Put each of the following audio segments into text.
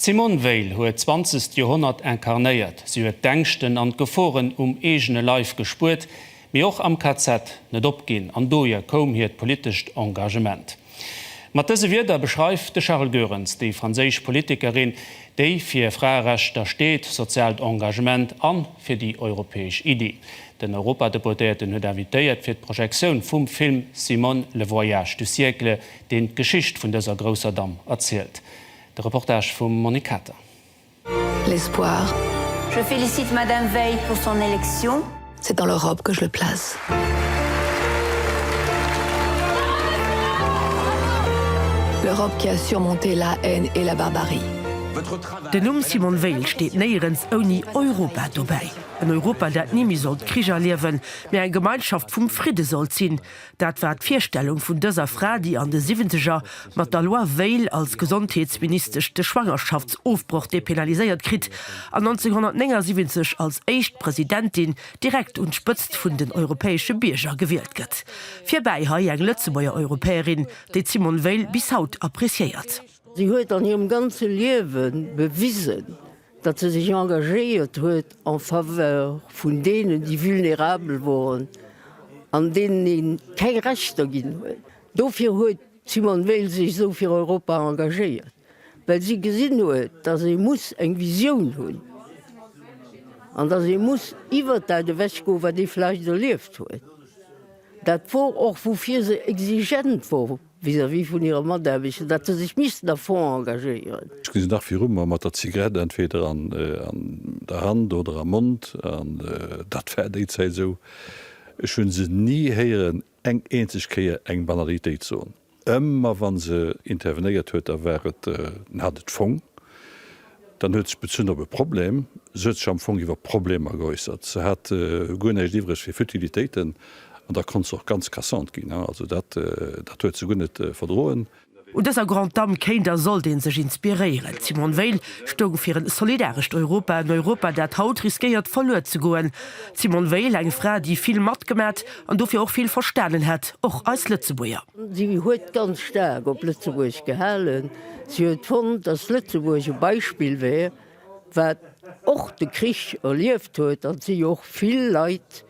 D'Simone Veil huet d'zwanzegst Joerhonnert incarnéiert. Si huet d'Ängschten an d'Geforen um eegene Leif gespuert, mee och am KZ net opginn an dohier koum hiert politescht Engagement. Mat dëse Wierder beschreift de Charles Goerens déi franséisch Politikerin, déi fir Fraerechter steet, soziaalt Engagement a fir déi europäesch Iddi. Den Europadeputéierten huet invitéiert fir d'Projektioun vum Film Simone, le voyage du siècle, deen d'Geschicht vun dëser grousser Damm erzielt. De Reportage vum Monique Kater. L'espoir. Je félicite Madame Veil pour son élection. C'est dans leur robe que je le place. Leur robe qui a surmonté la haine et la barbarie. Den Numm Simone Veil steet néierens ouni Europa dobäi. En Europa, dat ni méi sollt Krich erliewen, mee eng Gemeinschaft vum Fridde sollt sinn. Dat war d'Virstellung vun dëser Fra, déi an de Siwwenzeger mat der Loi Veil als Gesondheetsministesch de Schwangerschaftsofbroch dépénaliséiert kritt an 1979 als éischt Presidentin direkt un d'Spëtzt vun den europäesche Bierger gewielt gëtt. Virbäi hei eng Lëtzebuerger Europäerin, déi d'Simone Veil bis haut appreciéiert. Si huet an hirem ganze Liewe bewisen, datt se sech engagéiert huet en faveur vun deenen, déi vulnérabel woren an deenen ee keng Rechter ginn huet. Dofir huet d'Simone Veil sech esou fir Europa engagéiert, well si gesinn huet, datt ee muss eng Visioun hunn an datt ee muss iwwert dat ewechgoen, wat ee vläicht erlieft huet. Dat wor och, woufir se exigent wor. Vis-à-vis vun hire Mataarbechter, datt se sech missten à fond engagéieren. Ech gesinn dach viru mer, mat der Zigarett entweder an der Hand oder am Mond, an dat war déi Zäit esou. Ech hu se ni héieren eng eenzeg Kéier eng Banalitéit soen. Ëmmer wa se intervenéiert huet, da war et, en hat et fong. Dann huet sech bezunn op e Problem. Se huet sech am Fong iwwer Problemer geäussert. Se hat guer näischt iwwreg fir Futilitéiten an da konnt se och ganz cassant ginn. Also dat, dat huet se guer net verdroen. Un dëser Grande Dame kéint a sollt ee sech inspiréieren. D'Simone Veil stoung fir en solidarescht Europa, en Europa, dat haut riskéiert verluer ze goen. D'Simone Veil, eng Fra, déi vill matgemat an dofir och vill verstanen hätt, och eis Lëtzebuerger. Si huet ganz staark op Lëtzebuerg gehalen. Si huet fonnt, datt Lëtzebuerg e Beispill wär, wat och de Krich erlieft huet, an et si jo och vill Leit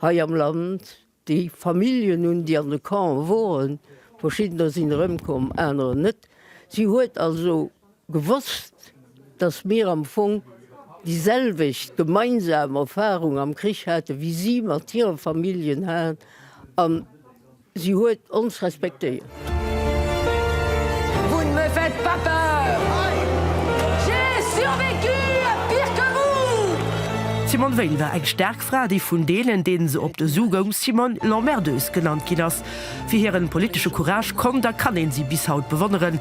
hei am Land, déi Familljen hunn, déi an de Campe woren, verschiddener sinn erëmkomm, anerer net. Si huet also gewosst, datt mir am Fong déi selwecht gemeinsam Erfarung am Krich hate wéi si mat hire Familljen hat. Si huet ons respektéiert. Vous ne me faites pas peur, j'ai survécu à pire que vous! D'Simone Veil war eng staark Fra, déi vun deenen, deene se op de Su goung, Simone l'emmerdeuse genannt ginn ass. Fir hiren politesche Courage konnt a kann een si bis haut bewonneren.